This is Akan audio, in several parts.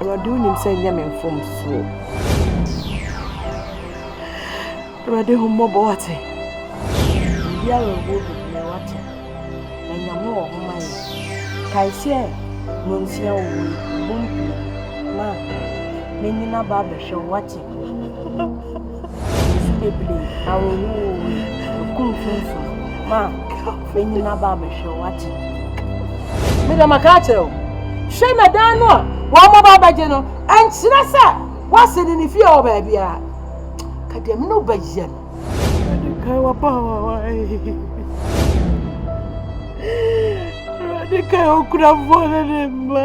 Awurade wonim sɛ ɛnyɛ me mfomsoɔ. Awurade hu mmɔbɔ wate. Obi awerɛhoɔ bebree wate. Na Nyame wɔ ho ma yɛ. Kae sɛ nonsia wɔ mu bom pii. Ma menyina ba abɛhwɛ wo wate. nsu bebree, awerɛhoɔwoo, ɛkum funfun, ma ɛnyin aba abɛhwɛ wo akye. Mede maka akyerɛ wo, hwɛ na dan no a wɔn mmɔba bɛgye no, ɛnkyerɛ sɛ wɔase ne ne fie wɔ baabiara. Ka deɛ me ne wo bɛyɛ no. Awurade kae w'abaawa yi. Awurade kae okurafoɔ ne ne mma.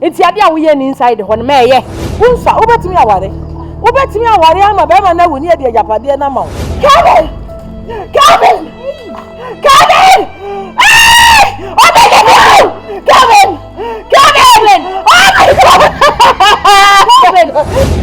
Nti adeɛ a woyɛ nni inside hɔ no ma ɛyɛ. Wo nsa, wobɛtumi aware? Wobɛtumi aware ama bɛrima no awu ne adi agyapadeɛ no ama wo? Kevin! Kevin! Kevin! Eeii! Ɔbɛ ne bi awu! Kevin! Kevin! Oh my God! Kevin!